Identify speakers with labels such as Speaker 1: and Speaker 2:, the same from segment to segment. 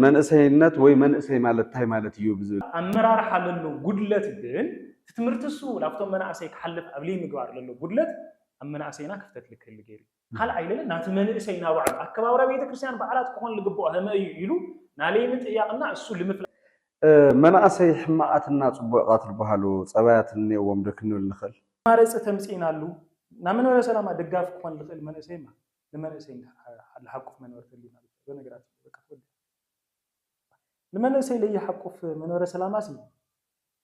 Speaker 1: መንእሰይነት ወይ መንእሰይ ማለት ታይ ማለት እዩ ብዝብል። ኣመራርሓ ለሎ
Speaker 2: ጉድለት ግን እቲ ትምህርቲ እሱ ላብቶም መናእሰይ ክሓልፍ ኣብ ልይምግባር ለሎ ጉድለት ኣብ መናእሰይና ክፍተት ልክህሊ ገይሩ እዩ። ካልኣይ ለለ ናቲ መንእሰይ ናባዕሉ ኣከባብራ ቤተክርስትያን በዓላት ክኾን ልግብኦ ሀመ እዩ ኢሉ ናለይ ምጥያቕ እና እሱ ልምፍላጥ። መናእሰይ
Speaker 1: ሕማቓት እና ፅቡዕቓት ልበሃሉ ፀባያት እኒኦዎም ዶ ክንብል ንኽእል? መማረፂ ተምፂእናሉ
Speaker 2: ናመንበረ ሰላማ ደጋፊ ክኾን ልኽእል መንእሰይ እማ ንመንእሰይ እንድሕር ለሓቁፍ መንበሪ ተድልዩ ማለት እያ እዛ ነገራት እዚኣ በቃ ተወዲኣ። ንመንእሰይ ለይሓቁፍ መንበረ ሰላማሲ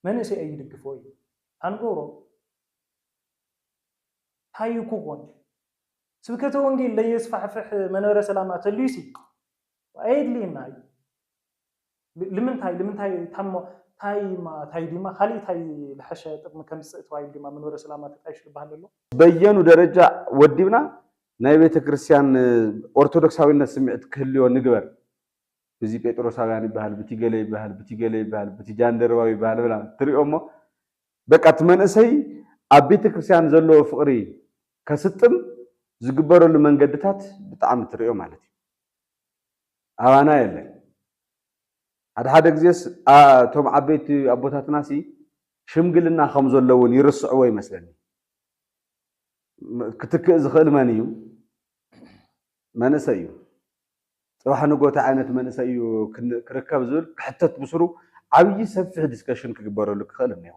Speaker 2: መንእሰይ ኣይድግፎ እዩ ኣንገብሮ ታይ ኩኾን ስብከተ ወንጌል ለየስፋሕፍሕ መንበረ ሰላማ ተልዩሲ ኣየድልየና እዩ። ልምንታይ ልምንታይ ታሞ ታይማ ታይ ዲማ ካሊእ ታይ ልሐሸ ጥቅሚ ከምጽእ ተባሂሉ ዲማ መንበረ ሰላማ ተጣይሹ ልባሃል ለሎ? በየኑ ደረጃ
Speaker 1: ወዲብና ናይ ቤተክርስቲያን ኦርቶዶክሳዊነት ስምዒት ክህልዮ ንግበር። ብቲ ጴጥሮሳውያን ይበሃል ብቲ ገለ ይበሃል ብቲ ገለ ይበሃል ብቲ ጃንደረባዊ ይበሃል ብላ ትሪኦ እሞ በቃ እቲ መንእሰይ ኣብ ቤተክርስቲያን ዘለዎ ፍቅሪ ከስጥም ዝግበረሉ መንገድታት ብጣዕሚ ትሪኦ ማለት እዩ። ኣባና የለን ሓደ ሓደ ግዜስ እቶም ዓበይቲ ኣቦታትናሲ ሽምግልና ከም ዘሎ እውን ይርስዕዎ ይመስለኒ ክትክእ ዝኽእል መን እዩ መንእሰይ እዩ ፅባሕ ንግሆ እንታይ ዓይነት መንእሰይ እዩ ክርከብ ዝብል ክሕተት ብስሩ ዓብዪ ሰፊሕ ዲስከሽን ክግበረሉ ክኽእል እኒኦ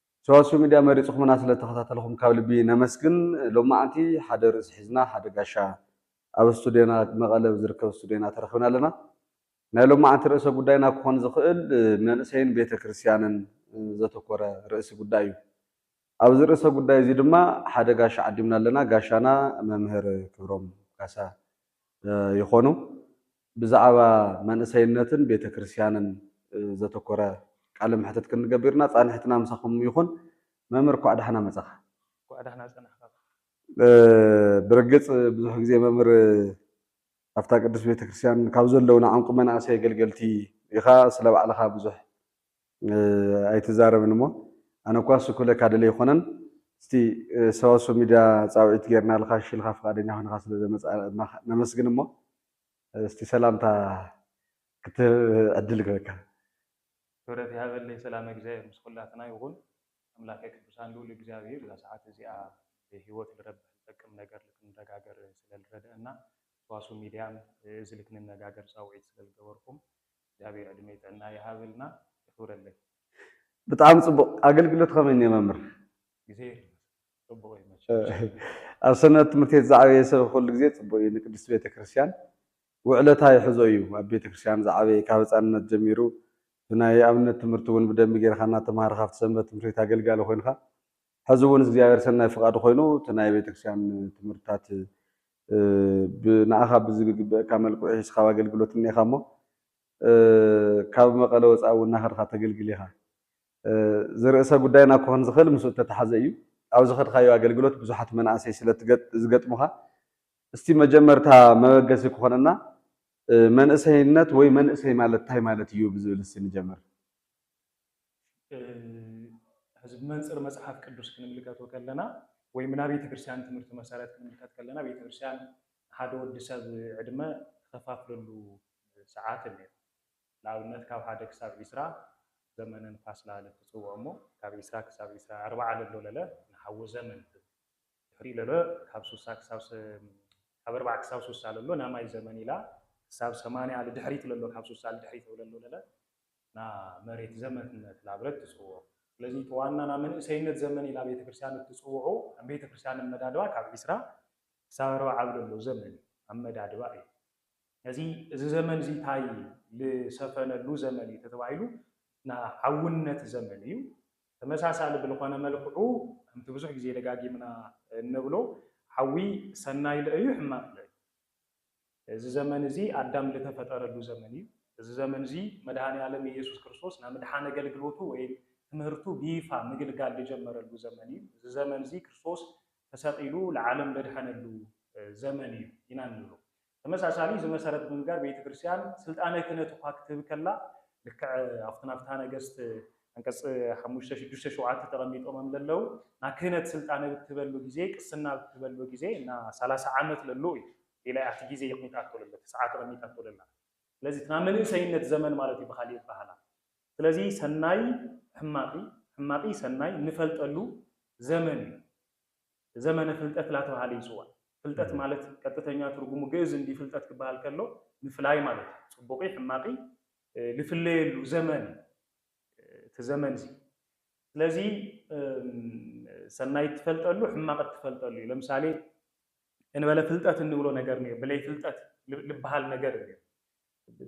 Speaker 1: ሰዋስው ሚድያ መሪፅኹምና ስለተኸታተልኹም ካብ ልቢ ነመስግን። ሎማዓንቲ ሓደ ርእሲ ሒዝና ሓደ ጋሻ ኣብ ስቱድዮና መቐለ ብዝርከብ ስቱድዮና ተረኽብና ኣለና። ናይ ሎማዓንቲ ርእሰ ጉዳይና ክኾን ዝኽእል መንእሰይን ቤተ ክርስትያንን ዘተኮረ ርእሲ ጉዳይ እዩ። ኣብዚ ርእሰ ጉዳይ እዚ ድማ ሓደ ጋሻ ዓዲምና ኣለና። ጋሻና መምህር ክብሮም ካሳ ይኾኑ። ብዛዕባ መንእሰይነትን ቤተክርስያንን ዘተኮረ ቃለ መሕትት ክንገብር ኢና ፃንሒትና ምሳኹም ይኹን መምህር እኳዕ ዳሕና መፃኻ። እንኳዕ ዳሕና
Speaker 2: ፀናሕካ። ብርግፅ
Speaker 1: ብዙሕ ግዜ መምህር ኣብታ ቅድስት ቤተክርስያን ካብ ዘለውና ዕንቁ መናእሰይ ኣገልገልቲ ኢኻ ስለ ባዕልኻ ብዙሕ ኣይትዛረብን እሞ ኣነ እኳ እሱ ክብለካ ደልየ ኣይኮነን እስቲ ሰዋስው ሚድያ ፃውዒት ጌርናልኻ እሺ ኢልካ ፍቃደኛ ኮይንኻ ስለ ዘመፃእካ ነመስግን እሞ እስቲ ሰላምታ ክትህብ ዕድል ክህበካ። ክብረት
Speaker 2: ይሃበለይ ሰላመ እግዚኣብሔር ምስ ኩላትና ይኹን ኣምላከ ቅዱሳን ልኡል እግዚኣብሔር እዛ ሰዓት እዚኣ ብሂወት ልረብሕ ልጠቅም ነገር ልክንረጋገር ስለ ልረደእና ሰዋስው ሚድያን እዚ ልክንነጋገር ፃውዒት ስለ ልገበርኹም እግዚኣብሔር ዕድሜ ጥዕና ይሃበልና የኽብረለይ።
Speaker 1: ብጣዕሚ ፅቡቅ ኣገልግሎት ኸመይ እኒኦ መምህር። ግዜየይ
Speaker 2: ይባርክ። ጽቡቅ እዩ መቸም ኣብ
Speaker 1: ሰንበት ትምህርቲ ቤት ዝዓበየ ሰብ ኩሉ ግዜ ጽቡቅ እዩ ንቅድስቲ ቤተክርስትያን ውዕለታ ይሕዞ እዩ ኣብ ቤተክርስትያን ዝዓበየ ካብ ህጻንነት ጀሚሩ ብናይ ኣብነት ትምህርቲ ውን ብደንቢ ጌርካ እናተማሃርካ ኣብቲ ሰንበት ትምህርትቤት ኣገልጋሊ ኮይንካ ሕዚ ውን እግዚኣብሔር ሰናይ ፍቃዱ ኮይኑ እቲ ናይ ቤተክርስትያን ትምህርትታት ንኣኻ ብዝግግበእካ መልክዑ ሒዝካ ኣብ ኣገልግሎት እኒኤኻ እሞ ካብ መቀለ ወጻኢ ውን እናኸድካ ተገልግል ኢኻ እዚ ርእሰ ጉዳይና ክኾን ዝኽእል ምስኡ እተተሓዘ እዩ። ኣብ ዝኸድካዮ ኣገልግሎት ብዙሓት መናእሰይ ስለ ዝገጥሙኻ፣ እስቲ መጀመርታ መበገሲ ክኾነና መንእሰይነት ወይ መንእሰይ ማለት እንታይ ማለት እዩ ብዝብል እስቲ ንጀምር።
Speaker 2: ሕዚ ብመንፅር መፅሓፍ ቅዱስ ክንምልከቶ ከለና ወይም ናይ ቤተክርስትያን ትምህርቲ መሰረት ክንምልከት ከለና ቤተክርስትያን ሓደ ወዲ ሰብ ዕድመ ትኸፋፍለሉ ሰዓት እኒኦ። ንኣብነት ካብ ሓደ ክሳብ ዒስራ ዘመነ ንፋስ ለለ ትጽውዖ እሞ ካብ ዒስራ ክሳብ ዒስራ ኣርብዓ ለሎ ለለ ንሓዎ ዘመን ትብል ድሕሪኡ ለሎ ካብ ሱሳ ክሳብ ካብ ኣርብዓ ክሳብ ሱሳ ለሎ ናማይ ዘመን ኢላ ክሳብ ሰማንያ ልድሕሪት ለሎ ካብ ሱሳ ልድሕሪት ለሎ ለለ ና መሬት ዘመት ነት ላብለት ትጽውዖ ስለዚ ተዋና ና መንእሰይነት ዘመን ኢላ ቤተክርስቲያን እትጽውዑ ኣብ ቤተክርስቲያን ኣመዳድባ ካብ ዒስራ ክሳብ ኣርብዓ ኣብ ለሎ ዘመን ኣመዳድባ እዩ ነዚ እዚ ዘመን እዚ ታይ ልሰፈነሉ ዘመን እዩ ተተባሂሉ ናይ ዓውነት ዘመን እዩ። ተመሳሳሊ ብልኾነ መልክዑ ከምቲ ብዙሕ ግዜ ደጋጊምና እንብሎ ሓዊ ሰናይ ልእ እዩ ሕማቕ ልእ እዩ። እዚ ዘመን እዚ ኣዳም ልተፈጠረሉ ዘመን እዩ። እዚ ዘመን እዚ መድኃኔዓለም ኢየሱስ ክርስቶስ ናይ ምድሓን ኣገልግሎቱ ወይም ትምህርቱ ብይፋ ምግልጋል ልጀመረሉ ዘመን እዩ። እዚ ዘመን እዚ ክርስቶስ ተሰቒሉ ልዓለም ለድሐነሉ ዘመን እዩ ኢና እንብሎ። ተመሳሳሊ እዚ መሰረት ብምግባር ቤተክርስቲያን ሥልጣነ ክህነት እኳ ክትህብ ከላ ልክዕ ኣብቲ ናብ ፍትሐ ነገሥት ዓንቀጽ ሓሙሽተ፣ ሽዱሽተ፣ ሸውዓተ ተቐሚጦምም ለለዉ እና ክህነት ሥልጣነ ብትህበሉ ጊዜ ቅስና ብትህበሉ ጊዜ እና ሠላሳ ዓመት ለሉ እዩ። ኢላ እያ እቲ ጊዜ የቕሚጣቶ ለለ እቲ ሰዓት ኣቐሚጣቶ ለላ። ስለዚ እቲ ናይ መንእሰይነት ዘመን ማለት እዩ ብኻሊእ ኣበሃህላ። ስለዚ ሠናይ ሕማቂ ሕማቂ ሠናይ እንፈልጠሉ ዘመን እዩ። ዘመነ ፍልጠት ላተብሃለ ይጽዋዕ። ፍልጠት ማለት ቀጥተኛ ትርጉሙ ግእዝ እንዲ ፍልጠት ክበሃል ከሎ ምፍላይ ማለት እዩ። ጽቡቕይ ሕማቕይ ልፍለየሉ ዘመን እዩ እቲ ዘመንዚ። ስለዚ ሰናይ እትፈልጠሉ ሕማቕ እትፈልጠሉ እዩ። ለምሳሌ እንበለ ፍልጠት እንብሎ ነገር እኒኦ ብለይ ፍልጠት ልበሃል ነገር እኒኦ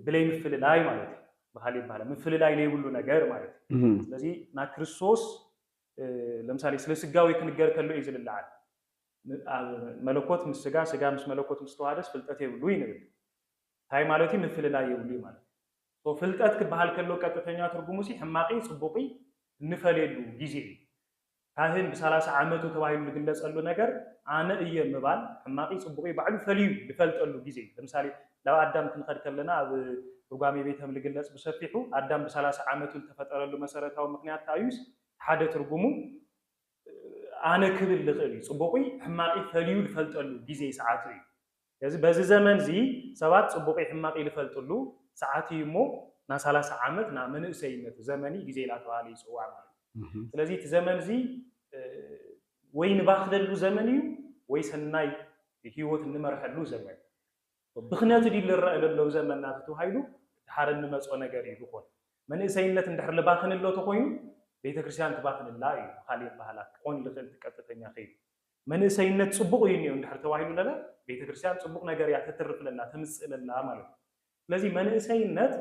Speaker 2: ብለይ ምፍልላይ ማለት እዩ። በሃሊ ይበሃላ ምፍልላይ ለይብሉ ነገር ማለት እዩ። ስለዚ ናክርስቶስ ለምሳሌ ስለ ስጋዌ ክንገር ከሎ እዩ ዝልልዓል። መለኮት ምስ ስጋ ስጋ ምስ መለኮት ምስ ተዋሃደስ ፍልጠት የብሉይ ንብል። ታይ ማለት እዩ ምፍልላይ የብሉይ ማለት እዩ። so ፍልጠት ክበሃል ከሎ ቀጥተኛ ትርጉሙሲ ሕማቅይ ፅቡቅይ እንፈልየሉ ጊዜ እዩ። ካህን ብ ሰላሳ ዓመቱ ተባሂሉ ልግለፀሉ ነገር ኣነ እየ ምባል ሕማቅይ ፅቡቅይ ባዕሉ ፈልዩ ልፈልጠሉ ጊዜ እዩ። ለምሳሌ ናብ ኣዳም ክንኸድ ከለና ኣብ ርጓሜ ቤተም ልግለጽ ብሰፊሑ ኣዳም ብሳላሳ ዓመቱ ልተፈጠረሉ መሰረታዊ ምክንያት ከኣ እዩስ ሓደ ትርጉሙ ኣነ ክብል ልክእል እዩ ጽቡቁይ ሕማቂይ ፈልዩ ልፈልጠሉ ግዜይ ሰዓቱ እዩ ስለዚ በዚ ዘመን እዚ ሰባት ጽቡቂይ ሕማቂይ ልፈልጥሉ ሰዓት እዩ እሞ ና ሳላሳ ዓመት ና መንእሰይነት ዘመንይ ግዜይ ላተባህለ ይጽዋዕ ማለት እዩ ስለዚ እቲ ዘመን እዚ ወይ ንባክለሉ ዘመን እዩ ወይ ሰናይ ሂወት እንመርሐሉ ዘመን ብኽነቲ ድዩ ልረእ ለሎ ብዘመና ተተዋሂሉ ድሓር እንመጾ ነገር እዩ ልኾን። መንእሰይነት እንድሕር ልባኽን እሎ ተኾይኑ ቤተክርስቲያን ትባኽን እላ እዩ ብኻሊእ ኣባህላ ክኾን ልኽእል እቲ ቀጥተኛ ከይዱ። መንእሰይነት ጽቡቕ እዩ እኒኦ እንድሕር ተባሂሉ ለለ ቤተክርስቲያን ጽቡቕ ነገር እያ ተትርፍ ለላ ተምጽእ ለላ ማለት እዩ። ስለዚ መንእሰይነት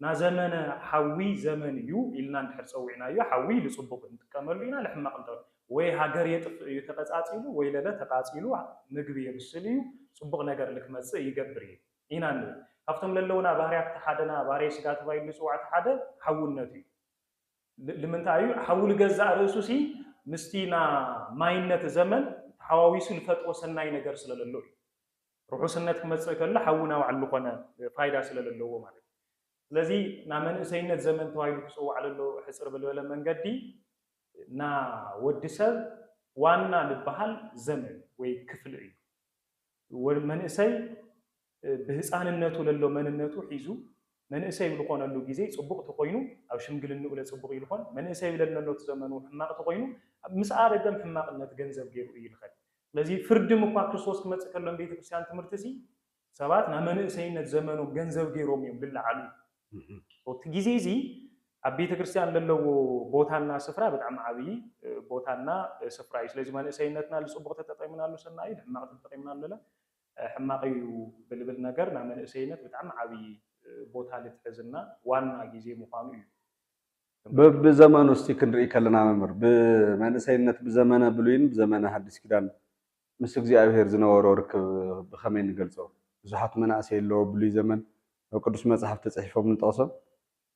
Speaker 2: ናዘመነ ሓዊ ዘመን እዩ ኢልና እንድሕር ጸዊዕናዮ ሓዊ ልጽቡቅ ንጥቀመሉ ኢና ልሕማቅ እንተ ወይ ሃገር የጥፍእ እዩ ተቀጻጺሉ ወይለለ ተቃጺሉ ምግቢ የብስል እዩ ጽቡቅ ነገር ልክመጽእ ይገብር እዩ ኢና ንብል ካብቶም ለለውና ባህርያት እቲ ሓደና ባህርይ ስጋ ተባሂሉ ልጽዋዕ እቲ ሓደ ሓውነት እዩ ልምንታይ እዩ ሓዊ ልገዛእ ርእሱ ሲ ምስቲ ና ማይነት ዘመን ተሓዋዊሱ ልፈጥሮ ሰናይ ነገር ስለለሎ እዩ። ርሑስነት ክመጽእ ከሎ ሓዊ ናባዕሉ ኮነ ፋይዳ ስለለለዎ ማለት እዩ። ስለዚ ና መንእሰይነት ዘመን ተባሂሉ ክጽዋዕ ለሎ ሕጽር ብልበለ መንገዲ ና ወዲ ሰብ ዋና ልበሃል ዘመን ወይ ክፍል እዩ። መንእሰይ ብህጻንነቱ ለሎ መንነቱ ሒዙ መንእሰይ ልኾነሉ ጊዜ ጽቡቕ ተኾይኑ ኣብ ሽምግልንኡ ለጽቡቕ እዩ ልኾን፣ መንእሰይ ለልነሎ እቲ ዘመኑ ሕማቕ ተኾይኑ ምስ ኣረገም ሕማቕነት ገንዘብ ገይሩ እዩ ልኸድ። ስለዚ ፍርድም እኳ ክርስቶስ ክመጽእ ከሎ ንቤተ ክርስቲያን ትምህርቲ እሲ ሰባት ናብ መንእሰይነት ዘመኖም ገንዘብ ገይሮም እዮም ልለዓሉ። So እቲ ጊዜ እዚ ኣብ ቤተ ክርስቲያን ለለዎ ቦታ እና ስፍራ ብጣዕሚ ዓብይ ቦታ እና ስፍራ እዩ። ስለዚ መንእሰይነትና ልጽቡቕ ተጠቂምናሉ ሰናይ እዩ፣ ልሕማቕ ተጠቂምናሉ ለለ ኣይ ሕማቅ እዩ ብልብል ነገር ናብ መንእሰይነት ብጣዕሚ ዓብይ ቦታ ልትሕዝ እና ዋና ግዜ ምኳኑ እዩ። በቢ ዘመኑ እስቲ ክንርኢ ከለና መምህር ብመንእሰይነት ብዘመነ ብሉይን ብዘመነ ሃዲስ ኪዳን ምስ እግዚኣብሔር ዝነበሮ ርክብ ብከመይ ንገልጾ ብዙሓት መናእሰይ ኣለዎ ብሉይ ዘመን ኣብ ቅዱስ መጽሓፍ ተጽሒፎም ንጠቅሶም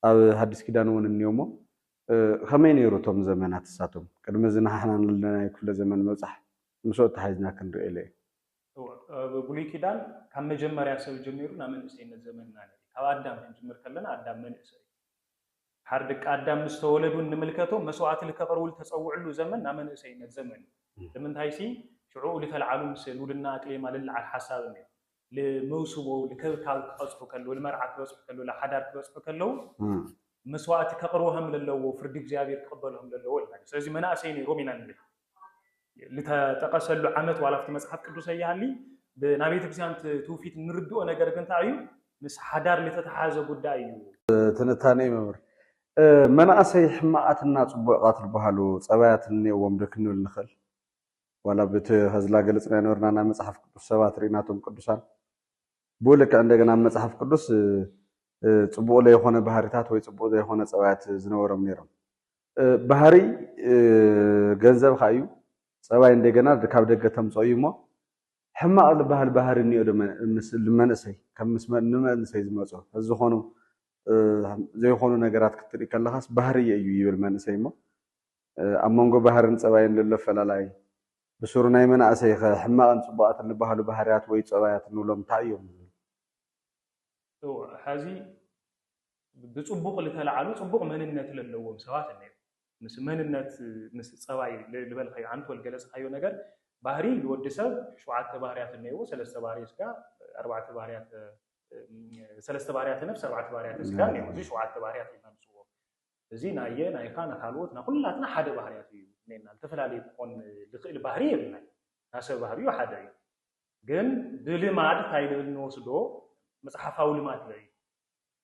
Speaker 2: ኣብ ሃዲስ ኪዳን እውን እንዮ እሞ ከመይ ነይሩ እቶም ዘመናት እሳቶም ቅድሚ እዚ ንሓሕና ንለናዮ ክፍለ ዘመን ምብጻሕ ምስኡ ኣተሓሒዝና ክንርእዮ ለይ ኣብ ብሉይ ኪዳን ካብ መጀመርያ ሰብ ጀሚሩ ናብ መንእሰይነት ዘመን ኢና ንርኢ። ካብ ኣዳም ክንጅምር ከለና ኣዳም መንእሰይ እዩ። ድሓር ደቂ ኣዳም ምስ ተወለዱ እንምልከቶ መስዋዕቲ ልከቅርቡ ልተጸውዕሉ ዘመን ናብ መንእሰይነት ዘመን እዩ። ልምንታይሲ ሽዑኡ ልተልዓሉ ምስ ሉድና ኣቅሌማ ልልዓል ሓሳብ እነዮ። ልመውስቦ ልክብካብ ክቀጽሑ ከለዉ፣ ልመርዓ ክበጽሑ ከለዉ፣ ልሓዳር ክበጽሑ ከለዉ መስዋዕቲ ከቅርቡ ሃምለለዎ፣ ፍርዲ እግዚኣብሔር ክቅበሉ ሃምለለዎ ኢልና ንርኢ። ስለዚ መናእሰይ ነይሮም ኢና ንብል። ዝተጠቐሰሉ ዓመት ዋላ ኣብቲ መጽሓፍ ቅዱስ ኣይሃሊ ብናይ ቤተ ክርስቲያን ትውፊት እንርድኦ ነገር ግን እንታይ እዩ ምስ ሓዳር ዝተተሓዘ ጉዳይ እዩ። ትንታኔ መምህር
Speaker 1: መናእሰይ ሕማቃትና ጽቡቃት ዝበሃሉ ጸባያት እንኔዎም ዶ ክንብል ንኽእል? ዋላ ብቲ ከዝላ ገለጽናዮ ነበርና ናይ መጽሓፍ ቅዱስ ሰባት ርኢናቶም ቅዱሳን ብኡ ልክዕ እንደገና ኣብ መጽሓፍ ቅዱስ ጽቡቅ ለይኾነ ባህሪታት ወይ ጽቡቅ ዘይኾነ ጸባያት ዝነበሮም ነይሮም ባህሪ ገንዘብካ እዩ ጸባይ እንደገና ካብ ደገ ተምጾ እዩ እሞ ሕማቕ ዝበሃል ባህሪ እኒኦ ዶ መንእሰይ ከም ንመንእሰይ ዝመጾ ዝኾኑ ዘይኾኑ ነገራት ክትርኢ ከለኻስ ባህርየ እዩ ይብል መንእሰይ እሞ ኣብ መንጎ ባህርን ጸባይን ዘሎ ፈላላይ ብስሩ ናይ መናእሰይ ኸ ሕማቕን ጽቡቓትን ዝበሃሉ ባህርያት ወይ ጸባያት እንብሎም እንታይ እዮም?
Speaker 2: ሕዚ ብጽቡቕ ልተላዓሉ ጽቡቕ መንነት ለለዎም ሰባት ኣለዩ። ምስ መንነት ምስ ጸባይ ልበልካዮ ኣንቶ ልገለጽካዮ ነገር ባህሪ ልወዲ ሰብ ሸውዓተ ባህርያት ኣለይዎ ሰለስተ ባህርይ ስጋ ኣርባዕተ ባህርያተ ሰለስተ ባህርያተ ነፍስ ኣርባዕተ ባህርያተ ስጋ ኣለይዎ እዚ ሸውዓተ ባህርያት ኢልና ንጽውዖ እዚ ናየ ናይካ ናካልዎት ናኩላትና ሓደ ባህርያት እዩ እኔና ልተፈላለየ ክኾን ልክእል ባህሪ የብልናይ ናሰብ ባህርዩ ሓደ እዩ ግን ብልማድ ታይ ልብል ንወስዶ መጽሓፋዊ ልማድ ለዩ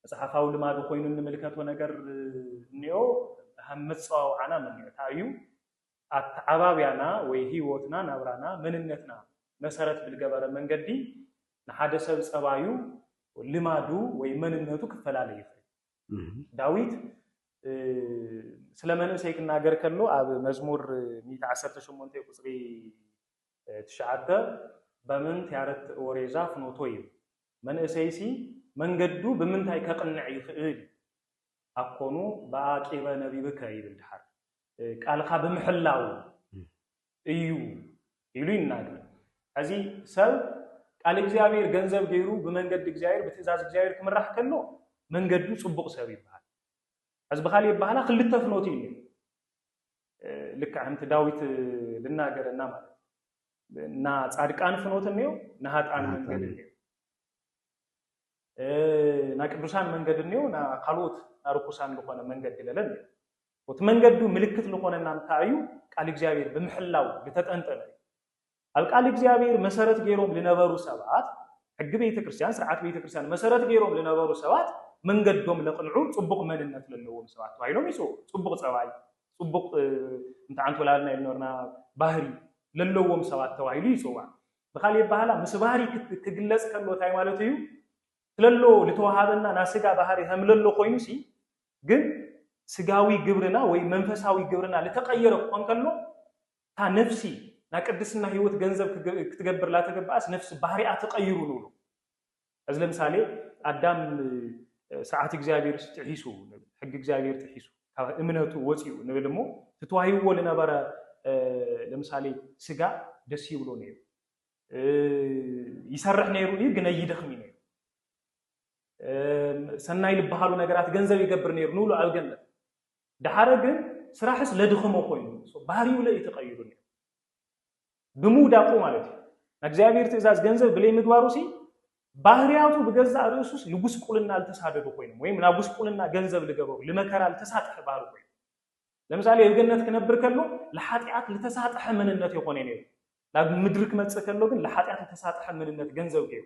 Speaker 2: መጽሓፋዊ ልማዱ ኮይኑ እንምልከቶ ነገር እኒኦ ሃብ መጸዋውዓና ምኒዕ ታዩ ኣተዓባብያና ወይ ህይወትና ናብራና መንነትና መሰረት ብልገበረ መንገዲ ንሓደ ሰብ ጸባዩ ልማዱ ወይ መንነቱ ክፈላለ ይኽእል ዳዊት ስለ መንእሰይ ክናገር ከሎ ኣብ መዝሙር 118 ቁጽሪ ትሽዓተ በምንት ያረት ወሬዛ ፍኖቶ እዩ መንእሰይሲ መንገዱ ብምንታይ ከቕንዕ ይኽእል እዩ? ኣኮኑ በኣቂበ ነቢብከ ይብል ደሓር። ቃልካ ብምሕላው እዩ ኢሉ ይናገር። ሕዚ ሰብ ቃል እግዚኣብሔር ገንዘብ ገይሩ ብመንገዲ እግዚኣብሔር ብትእዛዝ እግዚኣብሔር ክምራሕ ከሎ መንገዱ ጽቡቕ ሰብ ይበሃል። ሕዚ ብኻልእ ኣበሃህላ ክልተ ፍኖት እዩ ልክዕ ከምቲ ዳዊት ዝናገረና ማለት እና ጻድቃን ፍኖት እኔው ናሃጣን መንገድ እኔው ና ቅዱሳን መንገድ እኔው ና ካልኦት ና ርኩሳን ዝኾነ መንገድ ለለ እኔው እቲ መንገዱ ምልክት ዝኾነና እንታይ እዩ ቃል እግዚኣብሔር ብምሕላው ዝተጠንጠነ እዩ ኣብ ቃል እግዚኣብሔር መሰረት ገይሮም ዝነበሩ ሰባት ሕጊ ቤተ ክርስቲያን ስርዓት ቤተ ክርስቲያን መሰረት ገይሮም ዝነበሩ ሰባት መንገዶም ለቕንዑ ፅቡቕ መንነት ዘለዎም ሰባት ተባሂሎም ይፅኡ ፅቡቕ ፀባይ ጽቡቕ እንተዓንቶላልና ኢል ኖርና ባህሪ ለለዎም ሰባት ተባሂሉ ይጽዋዕ። ብካልእ የበሃህላ ምስ ባህሪ ክግለጽ ከሎ እንታይ ማለቱ እዩ? ትለሎ ልተወሃበና ናይ ስጋ ባህሪ ከም ለሎ ኮይኑሲ ግን ስጋዊ ግብርና ወይ መንፈሳዊ ግብርና ልተቀየረ ክኾን ከሎ እታ ነፍሲ ናይ ቅድስና ህይወት ገንዘብ ክትገብር ላተገበኣስ ነፍሲ ባህሪኣ ተቀይሩ ንብሎ። ሕዚ ለምሳሌ ኣዳም ስርዓት እግዚኣብሔር ጥሒሱ ሕጊ እግዚኣብሔር ጥሒሱ ካብ እምነቱ ወፂኡ ንብል እሞ ትተዋሂብዎ ልነበረ ለምሳሌ ስጋ ደስ ይብሎ ነይሩ ይሰርሕ ነይሩ እዩ ግን ይደኽም ነይሩ ሰናይ ልበሃሉ ነገራት ገንዘብ ይገብር ነይሩ ንብሎ ኣብ ገነት ድሓረ ግን ስራሕስ ለድኽሞ ኮይኑ ባህሪኡ ለእዩ ተቐይሩ ነይሩ ብምውዳቁ ማለት እዩ ናይ እግዚኣብሔር ትእዛዝ ገንዘብ ብለይ ምግባሩ ሲ ባህርያቱ ብገዛእ ርእሱስ ንጉስቁልና ልተሳደዱ ኮይኖም ወይም ናብ ጉስቁልና ገንዘብ ልገበሩ ልመከራ ልተሳጥሐ ባህሪ ኮይኑ ለምሳሌ ኣብ ገነት ክነብር ከሎ ንሓጢኣት ዝተሳጥሐ መንነት የኾነ ነይሩ ናብ ምድሪ ክመፅእ ከሎ ግን ንሓጢኣት ዝተሳጥሐ መንነት ገንዘብ ገይሩ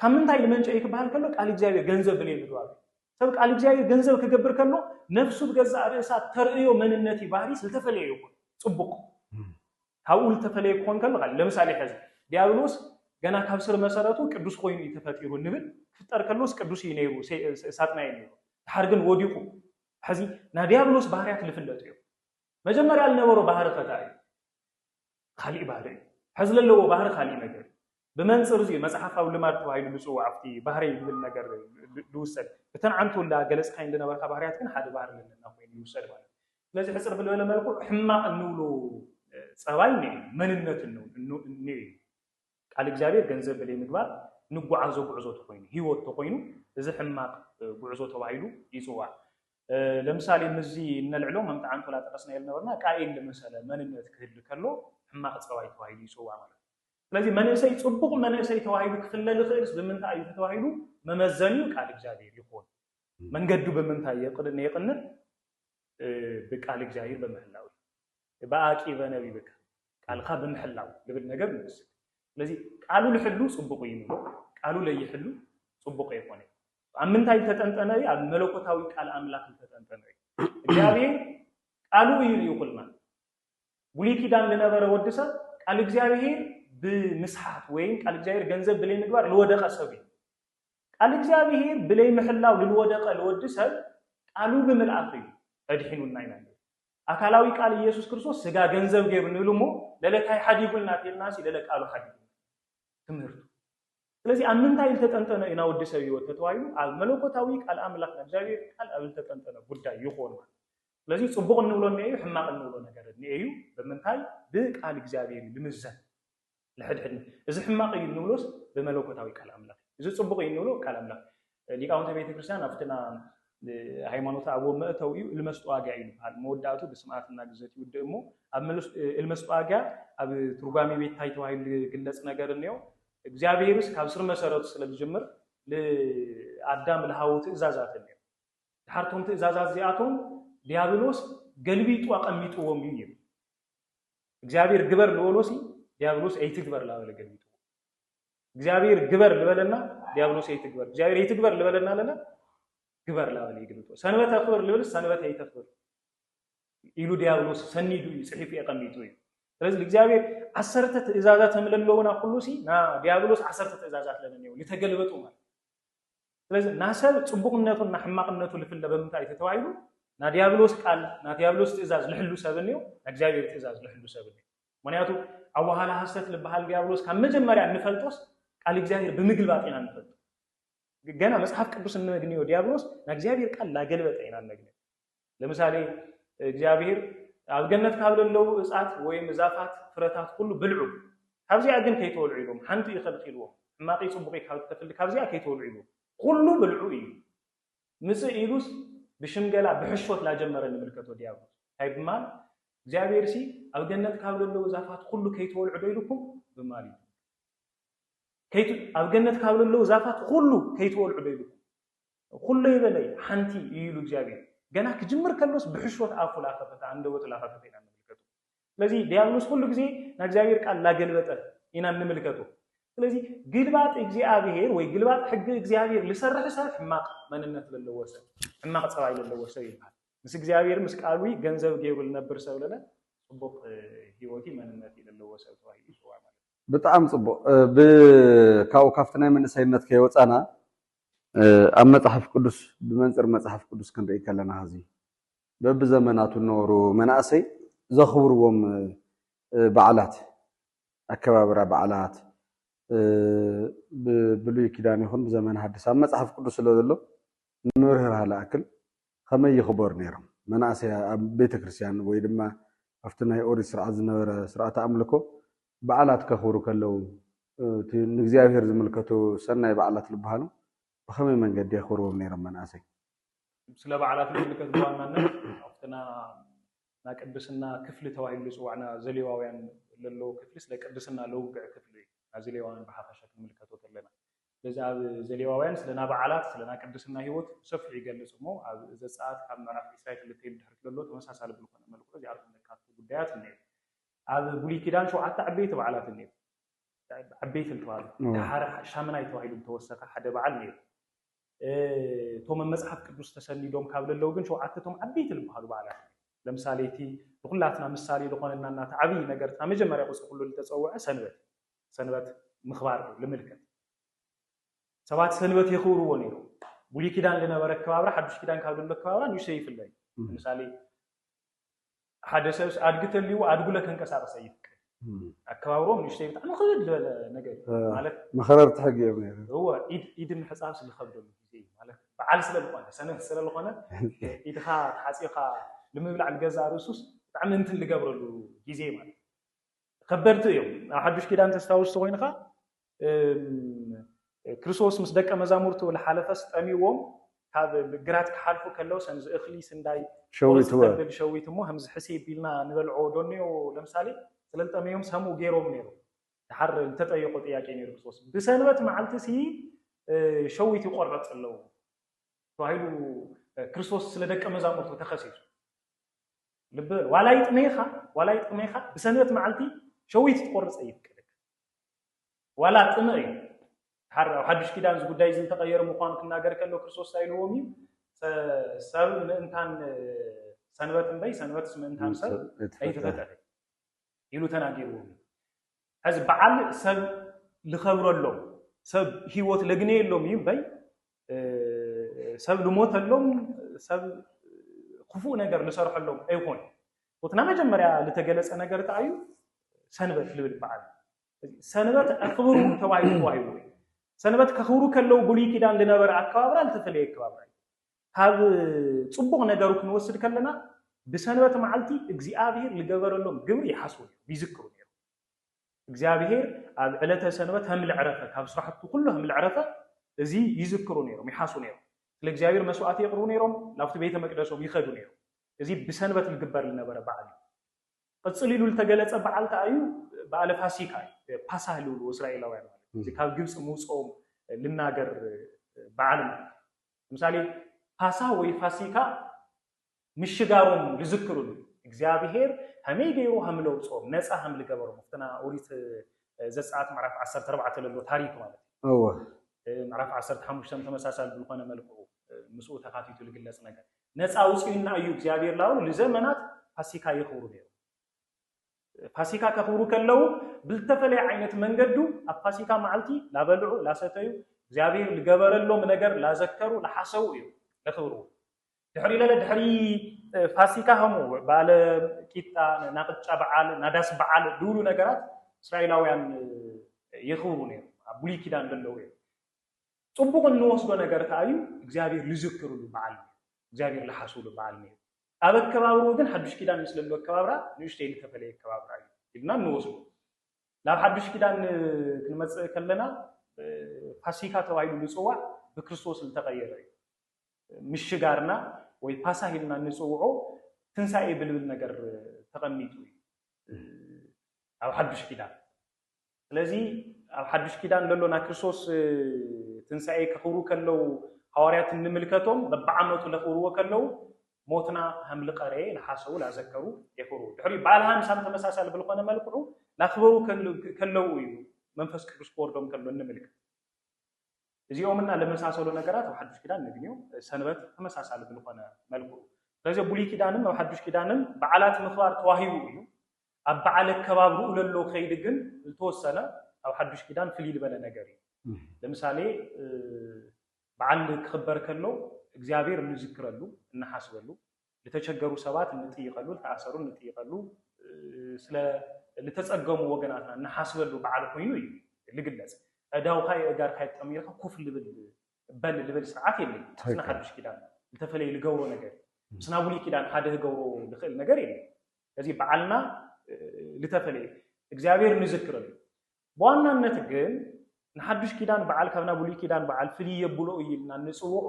Speaker 2: ካብ ምንታይ ዝመንጨ እዩ ክበሃል ከሎ ቃል እግዚኣብሔር ገንዘብ ብለይ ምግባሩ እዩ። ሰብ ቃል እግዚኣብሔር ገንዘብ ክገብር ከሎ ነፍሱ ብገዛእ ርእሳ ተርእዮ መንነት እዩ ባህሪ ዝተፈለየ ይኹን ጽቡቕ ካብኡ ዝተፈለየ ክኾን ከሎ ካል ለምሳሌ ሕዚ ዲያብሎስ ገና ካብ ስር መሰረቱ ቅዱስ ኮይኑ እዩ ተፈጢሩ ንብል ክፍጠር ከሎስ ቅዱስ እዩ ነይሩ ሳጥናይ ነይሩ ድሓር ግን ወዲቑ ሕዚ ናይ ዲያብሎስ ባህርያት ዝፍለጡ እዮም መጀመርያ ዝነበሮ ባህሪ ከታ እዩ ካሊእ ባህሪ እዩ ሕዚ ዘለዎ ባህሪ ካሊእ ነገር እዩ ብመንጽር እዚ'ዩ መጽሓፋዊ ልማድ ተባሂሉ ዝጽዋዕ፣ ኣብቲ ባህርይ ዝብል ነገር ዝውሰድ። እተን ዓንተውላ ገለጽካየን ዝነበርካ ባህርያት ግን ሓደ ባህሪ ለለና ኮይኑ ይውሰድ ማለት እዩ። ስለዚ ሕጽር ብልበለ መልክዑ ሕማቕ እንብሎ ጸባይ እኒኦ እዩ፣ መንነት እኒኦ እዩ። ቃል እግዚኣብሔር ገንዘብ ብለይ ምግባር ንጓዓዞ ጉዕዞ ተኾይኑ፣ ሕይወት ተኾይኑ እዚ ሕማቕ ጉዕዞ ተባሂሉ ይጽዋዕ። ለምሳሌ ምስዚ እነልዕሎ ከምቲ ዓንተውላ ጠቀስናዮ ዝነበርና ቃኤል ልመሰለ መንነት ክህሊ ከሎ ሕማቕ ጸባይ ተባሂሉ ይጽዋዕ ማለት እዩ። ስለዚ መንእሰይ ጽቡቕ መንእሰይ ተባሂሉ ክፍለ ዝኽእልስ ብምንታይ እዩ እንተተባሂሉ መመዘኒኡ ቃል እግዚኣብሔር ይኹን። መንገዱ ብምንታይ የቕን የቕንዕ ብቃል እግዚኣብሔር በምህላው እዩ። በኣቂበ ነቢብከ ቃልካ ብምሕላው ልብል ነገር ንወስድ። ስለዚ ቃሉ ልሕሉ ጽቡቕ እዩ ንብሎ፣ ቃሉ ለይሕሉ ጽቡቕ ኣይኮነ። ኣብ ምንታይ ዝተጠንጠነ እዩ? ኣብ መለኮታዊ ቃል ኣምላኽ ዝተጠንጠነ እዩ። እግዚኣብሔር ቃሉ እዩ ልኢኹልና። ብሉይ ኪዳን ልነበረ ወዲ ሰብ ቃል እግዚኣብሄር ብምስሓት ወይም ቃል እግዚኣብሄር ገንዘብ ብለይ ምግባር ልወደቀ ሰብ እዩ። ቃል እግዚኣብሄር ብለይ ምሕላው ልልወደቀ ልወዲ ሰብ ቃሉ ብምልኣኽ እዩ ኣድሒኑና ኢና። ኣካላዊ ቃል ኢየሱስ ክርስቶስ ስጋ ገንዘብ ገይሩ ንብል እሞ ለለታይ ሓዲጉልና ተልና ሲ ለለ ቃሉ ሓዲጉ ትምህርቱ ስለዚ ኣብ ምንታይ ዝተጠንጠነ እዩ ናወዲ ሰብ ህይወት ተተባሂሉ ኣብ መለኮታዊ ቃል ኣምላኽ እግዚኣብሔር ቃል ኣብ ዝተጠንጠነ ጉዳይ ይኾን ማለት ስለዚ ጽቡቕ እንብሎ እኔእዩ ሕማቕ እንብሎ ነገር እኔእዩ ብምንታይ ብቃል እግዚኣብሔር እዩ ልምዘን ንሕድሕድና እዚ ሕማቕ እዩ እንብሎስ ብመለኮታዊ ቃል ኣምላኽ እዩ እዚ ጽቡቕ እዩ እንብሎ ቃል ኣምላኽ ሊቃውንተ ቤተ ክርስቲያን ኣብትና ሃይማኖት ኣቦ መእተው እዩ እልመስጠዋጊያ እዩ ዝበሃል መወዳእቱ ብስምኣት እናግዘት ይውድእ እሞ ኣብ እልመስጠዋጊያ ኣብ ትርጓሜ ቤት ታይ ተባሂሉ ዝግለጽ ነገር እኒኦ እግዚኣብሔርስ ካብ ስር መሰረቱ ስለ ዝጅምር ንኣዳም ልሃቡ ትእዛዛት እኒኦ ደሓር እቶም ትእዛዛት እዚኣቶም ዲያብሎስ ገልቢጡ ኣቐሚጥዎም እዩ ይብል። እግዚኣብሔር ግበር ልበሎሲ ዲያብሎስ ኣይትግበር ላበለ ገልቢጡ እግዚኣብሔር ግበር ልበለና ዲያብሎስ ኣይትግበር እግዚኣብሔር ኣይትግበር ልበለና ለለ ግበር ላበለ ይግልጦ ሰንበት ኣኽብር ልብል ሰንበት ኣይተኽብር ኢሉ ዲያብሎስ ሰኒዱ እዩ ፅሒፉ የቐሚጡ እዩ ስለዚ እግዚኣብሔር ዓሰርተ ትእዛዛት እምለለውና ኩሉ ሲ ና ዲያብሎስ ዓሰርተ ትእዛዛት ለነኒው ልተገልበጡ ማለት ስለዚ ናሰብ ጽቡቕነቱን ናሕማቕነቱ ልፍለ በምንታይ እዩ ተተባሂሉ? ናዲያብሎስ ቃል፣ ናዲያብሎስ ትእዛዝ ልሕሉ ሰብን እዩ፣ ናእግዚኣብሔር ትእዛዝ ልሕሉ ሰብን እዩ። ምክንያቱ ኣዋሃላ ሐሰት ልበሃል ዲያብሎስ ካብ መጀመርያ እንፈልጦስ ቃል እግዚኣብሔር ብምግልባጥ ኢና እንፈልጦ። ገና መጽሓፍ ቅዱስ እነግንዮ ዲያብሎስ ናእግዚኣብሔር ቃል ላገልበጠ ኢና እነግንዮ። ለምሳሌ እግዚኣብሔር ኣብ ገነት ካብ ለለዉ እጻት ወይም ዛፋት ፍረታት ኩሉ ብልዑ ካብዚኣ ግን ከይትበልዑ ኢልዎም ሓንቲ እዩ ከልኪልዎም ሕማቂ ጽቡቂ ካብ እትፈሊ ካብዚኣ ከይትበልዑ ኢልዎም ኩሉ ብልዑ እዩ ምጽእ ኢሉስ ብሽምገላ ብሕሾት ላጀመረ ንምልከቶ ዲያብሎስ እንታይ ብማል እግዚኣብሔር ሲ ኣብ ገነት ካብ ለለዉ ዛፋት ኩሉ ከይትበልዑ ዶ ኢልኩም ብማል እዩ ኣብ ገነት ካብ ለለዉ ዛፋት ኩሉ ከይትበልዑ ዶ ኢልኩም ኹሎ ይበለይ ሓንቲ እዩ ኢሉ እግዚኣብሔር ገና ክጅምር ከሎስ ብሕሾት ኣፉ ላከፈተ ኣንደበቱ ላከፈተ ኢና እንምልከቶ ስለዚ ዲያብሎስ ኹሉ ግዜ ናይ እግዚኣብሔር ቃል ላገልበጠ ኢና እንምልከቶ ስለዚ ግልባጥ እግዚኣብሔር ወይ ግልባጥ ሕጊ እግዚኣብሔር ልሰርሕ ሰብ ሕማቅ መንነት ለለዎ ሰብ ሕማቅ ፀባይ ለለዎ ሰብ ይበሃል ምስ እግዚኣብሔር ምስ ቃሉ ገንዘብ ገይሩ ልነብር ሰብ ለለ ፅቡቅ ህይወት መንነት ለለዎ ሰብ ተባሂሉ ይፅዋዕ ማለት ብጣዕሚ ፅቡቅ
Speaker 1: ካብኡ ካብቲ ናይ መንእሰይነት ከይወፃና ኣብ መጽሓፍ ቅዱስ ብመንጽር መጽሓፍ ቅዱስ ክንርኢ ከለና ሕዚ በብዘመናቱ እነበሩ መናእሰይ ዘኽብርዎም በዓላት ኣከባብራ በዓላት ብብሉይ ኪዳን ይኹን ብዘመን ሓድስ ኣብ መጽሓፍ ቅዱስ ስለ ዘሎ ንምብርህራህ ልኣክል ከመይ ይኽበሩ ነይሮም መናእሰይ ኣብ ቤተ ክርስቲያን ወይ ድማ ኣብቲ ናይ ኦሪት ስርዓት ዝነበረ ስርዓተ ኣምልኮ በዓላት ከኽብሩ ከለዉ እቲ ንእግዚኣብሄር ዝምልከቱ ሰናይ በዓላት ዝበሃሉ ብኸመይ መንገዲ የኽብርዎም ነይሮም መናእሰይ? ስለ
Speaker 2: በዓላት ዝምልከት ብዋናነት ኣብቲ ናይ ቅድስና ክፍሊ ተባሂሉ ዝጽዋዕ ናይ ዘሌዋውያን ለለዎ ክፍሊ ስለ ቅድስና ለውግዕ ክፍሊ እዩ ናይ ዘሌዋውያን ብሓፈሻ ክንምልከቶ ተለና ስለዚ ኣብ ዘሌዋውያን ስለ ናይ በዓላት ስለ ናይ ቅድስና ህይወት ብሰፊሑ ይገልጽ እሞ ኣብ ዘጸኣት ካብ ምዕራፍ ዒስራይ ክልተ ኢሉ ድሕሪት ለሎ ተመሳሳሊ ብልኾነ መልክዑ እዚኣቶም ለካትቱ ጉዳያት እነዩ ኣብ ብሉይ ኪዳን ሸውዓተ ዓበይቲ በዓላት እኒኤው። ዓበይቲ እንትበሃሉ ደሓር ሻምናይ ተባሂሉ ዝተወሰከ ሓደ በዓል ነይሩ። እቶም ኣብ መጽሓፍ ቅዱስ ተሰኒዶም ካብ ለለው ግን ሸውዓተ እቶም ዓበይቲ ዝበሃሉ በዓላት እዮም። ለምሳሌ እቲ ንኩላትና ምሳሌ ዝኾነና እናተ ዓብይ ነገር እታ መጀመርያ ቁፅሪ ኩሉ ዝተፀውዐ ሰንበት ሰንበት ምኽባር ልምልከት ሰባት ሰንበት የኽብርዎ ነይሮም። ብሉይ ኪዳን ዝነበረ ከባብራ ሓዱሽ ኪዳን ካብ ዘሎ ከባብራ ንእሽተይ ይፍለ እዩ። ለምሳሌ ሓደ ሰብስ ኣድጊ ተልይዎ ኣድጉለ ከንቀሳቅስ ኣይፍቀድ ኣከባብርኦም ንእሽተይ ብጣዕሚ ክብድ ዝበለ ነገር እዩ ማለት መኸረርቲ ሕጊ እዮም
Speaker 1: ነይሩ እወ
Speaker 2: ኢድ ምሕፃብስ ዝኸብደሉ ግዜ እዩ ማለት በዓል ስለ ዝኾነ ሰነፍ ስለ ዝኾነ ኢድኻ ተሓፂብካ ንምብላዕ ንገዛእ ርእሱስ ብጣዕሚ እንትን ዝገብረሉ ግዜ ማለት ከበድቲ እዮም ኣብ ሓዱሽ ኪዳን ተስታውስ ተኮይንኻ እም ክርስቶስ ምስ ደቀ መዛሙርቱ ልሓለፈስ ጠምዩዎም ካብ ግራት ክሓልፉ ከለው ሰምዚ እክሊ ስንዳይ ቆርጽ ሸዊትወ። ተብል ሸዊት እሞ ሀምዚ ሕሴ ቢልና ንበልዖ ዶ እኔዮ ለምሳሌ ስለልጠመዮም ሰምኡ ገይሮም ነይሩ ድሓር ልተጠየቆ ጥያቄ ነይሩ ክርስቶስ ብሰንበት መዓልቲ ሲ ሸዊት ይቆረጽ ኣለው ተባሂሉ ክርስቶስ ስለ ደቀ መዛሙርቱ ተኸሲሱ ልብ በል ዋላ ይጥመይኻ ዋላ ይጥመይኻ ብሰንበት መዓልቲ ሸዊት ትቆርጽ ኣይፍቀደካ ዋላ ጥምእ እዩ ሓር ኣብ ሓዱሽ ኪዳን እዚ ጉዳይ እዚ እንተቀየረ ምዃኑ ክናገር ከሎ ክርስቶስ እንታይ ኢልዎም እዩ ሰብ ምእንታን ሰንበት እምበይ ሰንበትስ ምእንታን ሰብ ኣይተፈጠረ ኢሉ ተናጊርዎም እዩ ሕዚ በዓል ሰብ ልኸብረሎም ሰብ ህይወት ለግነየሎም እዩ እምበይ ሰብ ልሞተሎም ሰብ ክፉእ ነገር ልሰርሐሎም ኣይኮን እቲ ናይ መጀመርያ ልተገለፀ ነገር ከዓ እዩ ሰንበት ልብል በዓል ሰንበት ኣክብሩ ተባሂሉ ተዋሂቡ እዩ ሰንበት ከክብሩ ከለው ብሉይ ኪዳን ልነበረ ኣከባብራ ልተፈለየ ኣከባብራ እዩ ካብ ፅቡቕ ነገሩ ክንወስድ ከለና ብሰንበት መዓልቲ እግዚኣብሔር ልገበረሎም ግብሪ ይሓስቡ ይዝክሩ ነይሩ እግዚኣብሄር ኣብ ዕለተ ሰንበት ሀምል ዕረፈ ካብ ስራሕቱ ኩሉ ሀምል ዕረፈ እዚ ይዝክሩ ነይሮም ይሓሱ ነይሮም ስለ እግዚኣብሄር መስዋእቲ የቅርቡ ነይሮም ናብቲ ቤተ መቅደሶም ይኸዱ ነይሮም እዚ ብሰንበት ልግበር ልነበረ በዓል እዩ ቅፅል ኢሉ ልተገለፀ በዓል ከዓ እዩ በዓለ ፋሲካ እዩ ፓሳህ ልብልዎ እስራኤላውያን ማለት እዚ ካብ ግብፂ ምውፅኦም ልናገር በዓል ማለት ለምሳሌ ፓሳ ወይ ፋሲካ ምሽጋሮም ልዝክርሉ እግዚኣብሄር ሀመይ ገይሩ ሀም ለውጾም ነጻ ሀም ልገበሮም ኣብቲ ና ኦሪት ዘጸኣት ምዕራፍ ዓሰርተ ኣርባዕተ ለሎ ታሪክ ማለት እዩ። እወ። ምዕራፍ ዓሰርተ ሓሙሽተ ተመሳሳሊ ብልኾነ መልክዑ ምስኡ ተካቲቱ ልግለጽ ነገር ነጻ ኣውጺኡና እዩ እግዚኣብሄር ላብሉ ልዘመናት ፋሲካ የኽብሩ ነይሩ። ፋሲካ ከኽብሩ ከለው ብልተፈለየ ዓይነት መንገዱ ኣብ ፋሲካ መዓልቲ ላበልዑ ላሰተዩ እግዚኣብሄር ልገበረሎም ነገር ላዘከሩ ላሓሰቡ እዩ ለኽብርዎ። ድሕሪ ለለ ድሕሪ ፋሲካ ሀሙ ባለ ቂጣ ናቅጫ በዓል ናዳስ በዓል ድብሉ ነገራት እስራኤላውያን የኽብሩ ነይሩ ኣብ ብሉይ ኪዳን ደለዉ እዮም ፅቡቅ እንወስዶ ነገር ከዓ እዩ እግዚኣብሔር ልዝክርሉ በዓል ነይሩ እግዚኣብሔር ልሓስብሉ በዓል ነይሩ ኣብ ኣከባብርኡ ግን ሓዱሽ ኪዳን ምስ ለሎ ኣከባብራ ንእሽተይ ልተፈለየ ኣከባብራ እዩ ኢልና እንወስዶ ናብ ሓዱሽ ኪዳን ክንመፅእ ከለና ፋሲካ ተባሂሉ ዝፅዋዕ ብክርስቶስ ዝተቀየረ እዩ ምሽጋርና ወይ ፓሳህ ኢልና እንጽውዖ ትንሳኤ ብልብል ነገር ተቐሚጡ እዩ ኣብ ሓዱሽ ኪዳን። ስለዚ ኣብ ሓዱሽ ኪዳን ዘሎ ናይ ክርስቶስ ትንሳኤ ከኽብሩ ከለው ሃዋርያት እንምልከቶም በብዓመቱ ለኽብርዎ ከለው ሞትና ሃምሊ ቀሬ ለሓሰው ላዘከሩ የኽብሩ ድሕሪ በዓል ሃምሳም ተመሳሳሊ ብልኾነ መልክዑ ላኽበሩ ከለው እዩ መንፈስ ቅዱስ ክወርዶም ከሎ እንምልከት እዚኦም እና ለመሳሰሉ ነገራት ኣብ ሓዱሽ ኪዳን ነግንዮ። ሰንበት ተመሳሳሊ ብልኾነ መልክዑ ስለዚ ኣብ ብሉይ ኪዳንን ኣብ ሓዱሽ ኪዳንን በዓላት ምኽባር ተዋሂቡ እዩ። ኣብ በዓል ኣከባብርኡ ለሎ ከይዲ ግን ዝተወሰነ ኣብ ሓዱሽ ኪዳን ፍልይ ልበለ ነገር እዩ። ለምሳሌ በዓል ክኽበር ከሎ እግዚኣብሔር እንዝክረሉ፣ እንሓስበሉ፣ ልተቸገሩ ሰባት እንጥይቀሉ፣ ልተኣሰሩ እንጥይቀሉ፣ ስለ ልተጸገሙ ወገናትና እንሓስበሉ በዓል ኮይኑ እዩ ልግለጽ። ኣእዳውካ የእጋርካ የጣሚርካ ኮፍ ልብል በል ልብል ስርዓት የለይ። ምስና ሓዱሽ ኪዳን ልተፈለየ ልገብሮ ነገር እዩ። ምስና ብሉይ ኪዳን ሓደ ህገብሮ ልኽእል ነገር የለን። ስለዚ በዓልና ልተፈለየ እግዚኣብሔር ንዝክረሉ፣ ብዋናነት ግን ንሓዱሽ ኪዳን በዓል ካብ ናይ ብሉይ ኪዳን በዓል ፍልይ የብሎ እዩ ኢልና እንጽውዖ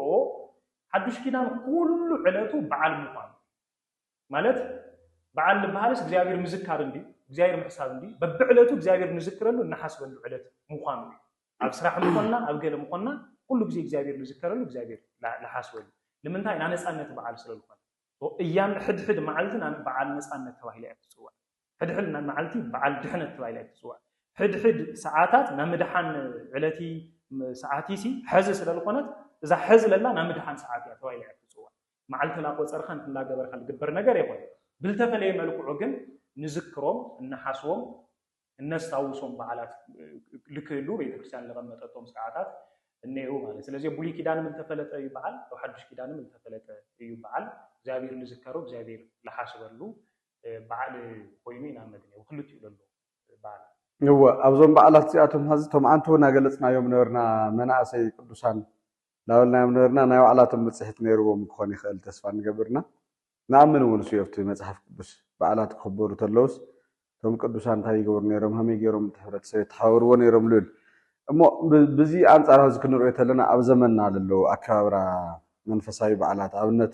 Speaker 2: ሓዱሽ ኪዳን ኩሉ ዕለቱ በዓል ምዃኑ ማለት በዓል ዝበሃልስ እግዚኣብሔር ምዝካር እንዲ እግዚኣብሔር ምሕሳብ እንዲ በብዕለቱ እግዚኣብሔር ንዝክረሉ እናሓስበሉ ዕለት ምዃኑ እዩ ኣብ ስራሕ ምኾንና ኣብ ገለ ምኾንና ኩሉ ግዜ እግዚኣብሔር ንዝከረሉ እግዚኣብሔር ንሓስበሉ ንምንታይ ናይ ነፃነት በዓል ስለዝኾነ እያን ሕድሕድ መዓልቲ በዓል ነፃነት ተባሂላ እያ ትፅዋዕ ሕድሕድ መዓልቲ በዓል ድሕነት ተባሂላ እያ እትፅዋዕ። ሕድሕድ ሰዓታት ናይ ምድሓን ዕለቲ ሰዓቲሲ ሐዚ ስለዝኾነት እዛ ሐዚ ለላ ናይ ምድሓን ሰዓት እያ ተባሂላ እያ እትፅዋዕ። መዓልቲ ላቆፀርካ እንትን ላገበርካ ዝግበር ነገር የኾነን። ብልተፈለየ መልክዑ ግን ንዝክሮም፣ እነሓስቦም፣ እነስታውሶም በዓላት ልክህሉ ቤተክርስትያን ለቐመጠቶም ስርዓታት እነኡ ማለት ስለዚ ብሉይ ኪዳንም እልተፈለጠ እዩ በዓል ኣብ ሓዱሽ ኪዳንም እልተፈለጠ እዩ በዓል እግዚኣብሔር ልዝከሮ እግዚኣብሔር ልሓስበሉ በዓል ኮይኑ ኢና እምነት እኔዎ ክልቲኡ ለሎ በዓል። እወ ኣብዞም
Speaker 1: በዓላት እዚኣቶም ሐዚ እቶም ኣንትው ናገለፅናዮም ነበርና መናእሰይ ቅዱሳን ናበልናዮም ነበርና ናይ ባዕላቶም ብፅሒት ነይርዎም ክኾን ይኽእል ተስፋ ንገብር እና ንኣምን እውን እሱ እዩ ኣብቲ መፅሓፍ ቅዱስ በዓላት ክኽበሩ ተለውስ እቶም ቅዱሳን እንታይ ይገብሩ ነይሮም ሀመይ ገይሮም እቲ ሕብረተሰብ የተሓባብርዎ ነይሮም ልብል እሞ ብዚ ኣንፃር ሐዚ ክንሪኦ ተለና ኣብ ዘመንና ለለዉ ኣከባብራ መንፈሳዊ በዓላት ኣብነት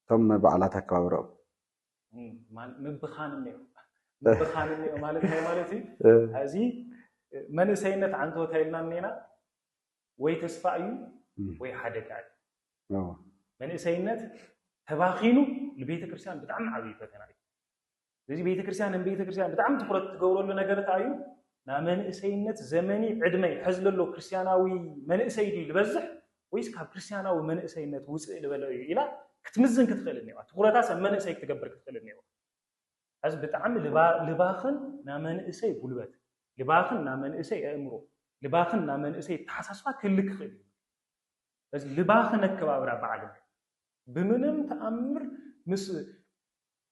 Speaker 1: እቶም በዓላት ኣከባብራኦም። ምብኻን
Speaker 2: እኒኦ ምብኻን እኒኦ ማለት እንታይ ማለት እዩ? እዚ መንእሰይነት ዓንተወታ ኢልና እኒና ወይ ተስፋ እዩ ወይ ሓደጋ እዩ። መንእሰይነት ተባኺኑ ንቤተ ክርስቲያን ብጣዕሚ ዓብዪ ፈተና እዩ። ስለዚ ቤተክርስትያን ንቤተክርስትያን ብጣዕሚ ትኹረት ትገብረሉ ነገር እንታይ እዩ? ናብ መንእሰይነት ዘመኒ ዕድመይ ሕዚ ለሎ ክርስትያናዊ መንእሰይ ድዩ ዝበዝሕ ወይስ ካብ ክርስትያናዊ መንእሰይነት ውፅእ ልበለ እዩ ኢላ ክትምዝን ክትኽእል እኒዋ ትኹረታስ ኣብ መንእሰይ ክትገብር ክትኽእል እኒዋ ሕዚ ብጣዕሚ ልባኽን ናብ መንእሰይ ጉልበት ልባኽን ናብ መንእሰይ ኣእምሮ ልባኽን ናብ መንእሰይ ተሓሳስባ ክህሊ ክኽእል እዩ እዚ ልባኽን ኣከባብራ በዓል ብምንም ተኣምር ምስ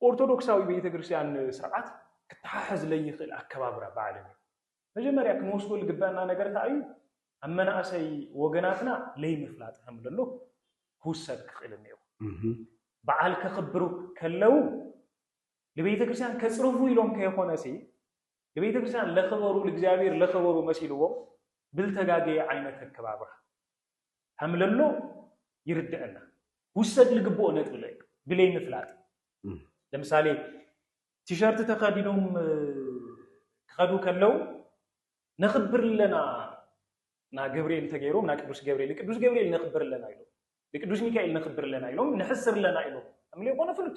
Speaker 2: ኦርቶዶክሳዊ ቤተ ክርስቲያን ስርዓት ክተሓሕዝ ለይኽእል ኣከባብራ በዓልን እዩ። መጀመርያ ክንወስዶ ልግበእና ነገር እንታይ እዩ? ኣብ መናእሰይ ወገናትና ለይምፍላጥ ከም ለሎ ክውሰድ ክኽእል እኒኦ። በዓል ከኽብሩ ከለው ልቤተ ክርስቲያን ከጽርፉ ኢሎም ከይኾነ ሲ ልቤተ ክርስቲያን ለኽበሩ ልእግዚኣብሔር ለኽበሩ መሲልዎም ብልተጋገየ ዓይነት ኣከባብራ ከምለሎ ይርደእና ክውሰድ ልግብኦ ነጥቢ ለ ብለይ ምፍላጥ ለምሳሌ ቲሸርት ተኸዲኖም ክኸዱ ከለው ነኽብር ኣለና ና ገብርኤል ተገይሮም ና ቅዱስ ገብርኤል ንቅዱስ ገብርኤል ነኽብር ኣለና ኢሎም ንቅዱስ ሚካኤል ነኽብር ኣለና ኢሎም ንሕስር ኣለና ኢሎም ከምለ ኮነ ፍሉጥ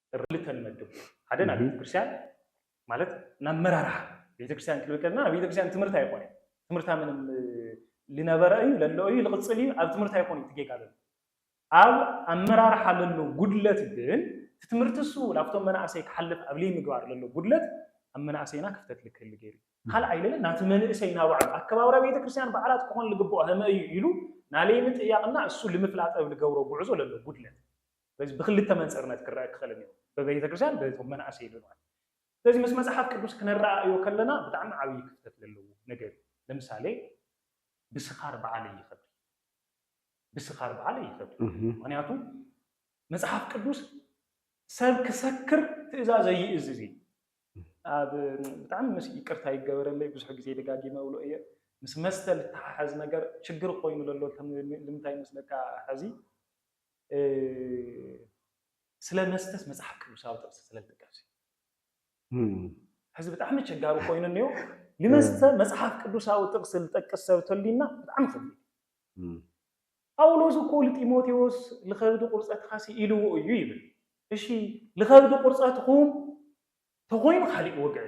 Speaker 2: ክልተ ንመድብ ሓደ ናብ ቤተክርስትያን ማለት ናብ መራርሓ ቤተክርስትያን ክንብል ከለና ኣብ ቤተክርስትያን ትምህርቲ ኣይኮነ ትምህርታ ምንም ልነበረ እዩ ለሎ እዩ ልቕፅል እዩ ኣብ ትምህርቲ ኣይኮነ እቲ ጌጋ ዘሎ ኣብ ኣመራርሓ ለሎ ጉድለት ግን እቲ ትምህርቲ እሱ ላብቶም መናእሰይ ክሓልፍ ኣብ ምግባር ለሎ ጉድለት ኣብ መናእሰይና ክፍተት ልክህሊ ገይሩ ካልኣይ ለለ ናቲ መንእሰይ ናባዕሉ ኣከባብራ ቤተክርስትያን በዓላት ክኾን ልግብኦ ህመ እዩ ኢሉ ናለይ ምጥያቕና እሱ ልምፍላጠብ ልገብሮ ጉዕዞ ለሎ ጉድለት ስለዚ ብክልተ መንጽርነት ክረኣ ክኽእል እኒኦ፣ ብቤተክርስትያን በቶም መናእሰይ ብምባል። ስለዚ ምስ መጽሓፍ ቅዱስ ክነረኣእዮ ከለና ብጣዕሚ ዓብዪ ክፍተት ለለዎ ነገር እዩ። ለምሳሌ ብስኻር በዓለይ ይኸብድ እዩ። ብስኻር በዓለይ ይኸብድ እዩ። ምክንያቱ መጽሓፍ ቅዱስ ሰብ ክሰክር ትእዛዝ ኣይእዝዝ እዩ። ኣብ ብጣዕሚ ምስ ይቅርታ ይገበረለይ ብዙሕ ግዜ ደጋጊመ እብሎ እየ ምስ መስተ ልተሓሓዝ ነገር ችግር ኮይኑ ለሎ ልምንታይ መስለካ ሕዚ ስለ መስተስ መጽሓፍ ቅዱሳዊ ጥቕሲ ስለ ዝጥቀስ ሕዚ ብጣዕሚ ቸጋሪ ኮይኑ እኒኦ ልመስተ መጽሓፍ ቅዱሳዊ ጥቕሲ ልጠቅስ ሰብ ተሊና ብጣዕሚ ከቢድ ጳውሎስ እኮ ልጢሞቴዎስ ልኸብዲ ቁርፀትኻ ስኢልዎ እዩ ይብል እሺ ልኸብዲ ቁርፀትኹም ተኾይኑ ካሊእ ወግዒ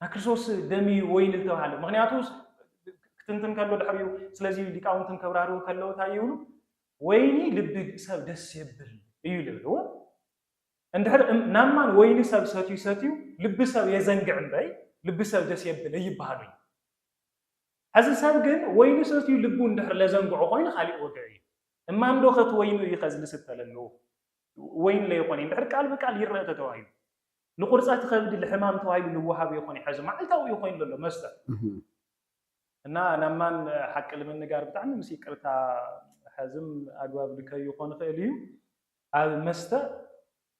Speaker 2: ናይ ክርስቶስ ደም እዩ ወይን ዝተባህለ ምክንያቱ ክትንትን ከሎ ድሕሪኡ ስለዚ ሊቃውንትን ከብራርሁ ከለዉ እንታይ ይብሉ ወይኒ ልቢ ሰብ ደስ የብል እዩ ልብል እዎ እንድሕር ናማን ወይኒ ሰብ ሰትዩ ሰትዩ ልቢ ሰብ የዘንግዕ እምበይ ልቢ ሰብ ደስ የብል እይበሃሉ እዩ ሕዚ ሰብ ግን ወይኒ ሰትዩ ልቡ እንድሕር ለዘንግዑ ኮይኑ ካሊእ ወግዒ እዩ እማን ዶ ከቲ ወይኑ እዩ ከዚ ልስተ ለለዎ ወይን ለይኮነ እንድሕር ቃል ብቃል ይረአ ተተባሂሉ ንቁርፀት ኸብዲ ልሕማም ተባሂሉ ልወሃብ እዮ ኾን ሐዚ ማዓልታዊ እዮ ኾይኑ ለሎ መስተ እና ናብ ማን ሓቂ ልምንጋር ብጣዕሚ ምስ ይቅርታ ሐዝም ኣግባብ ልከዩ ኾን ይኽእል እዩ ኣብ መስተ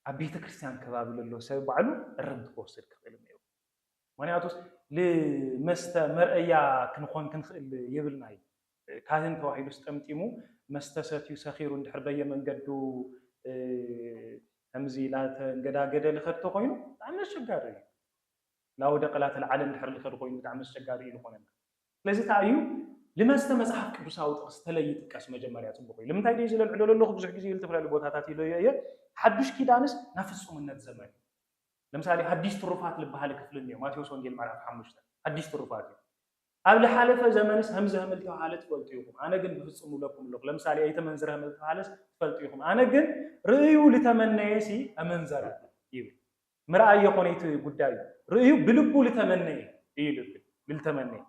Speaker 2: ኣብ ቤተክርስትያን ከባቢ ለሎ ሰብ ባዕሉ እረምት ክወስድ ክኽእል እዮ ምክንያቱስ ልመስተ መርኣያ ክንኾን ክንኽእል የብልናይ ካህን ተባሂሉስ ጠምጢሙ መስተ ሰትዩ ሰኺሩ እንድሕር በየመንገዱ ከምዚ ላተንገዳገደ ልኸድ ተኾይኑ ብጣዕሚ ኣሸጋሪ እዩ። ላወደቀ ላተልዓለ እንድሕር ልኸድ ኾይኑ ብጣዕሚ ኣሸጋሪ እዩ ልኾነና። ስለዚ ታይ እዩ ልመስተ መጽሓፍ ቅዱሳዊ ጥቅስ ተለይ ይጥቀስ መጀመርያ ጽቡቅ እዩ። ልምንታይ ድየ እዚ ለልዕሎ ለለኹ ብዙሕ ግዜ ልተፈላለዩ ቦታታት ኢለዮ እየ ሓዱሽ ኪዳንስ ናብ ፍጹምነት ዘመን እዩ። ለምሳሌ ሃዲስ ትሩፋት ልበሃሊ ክፍሊ እኒኦ ማቴዎስ ወንጌል ምዕራፍ ሓሙሽተ ሃዲስ ትሩፋት እዩ። ኣብ ልሓለፈ ዘመንስ ሀምዚ ሀምል ተብሃለ ትፈልጡ ኢኹም ኣነ ግን ብፍጹም እብለኩም እለኹ ለምሳሌ ኣይተመንዝረ ሀምል ተብሃለስ ትፈልጡ ኢኹም ኣነ ግን ርእዩ ልተመነየ ሲ ኣመንዘረ ይብል ምርኣይ የኾነ እቲ ጉዳዩ ርእዩ ብልቡ ልተመነየ እዩ ልብል ልልተመነየ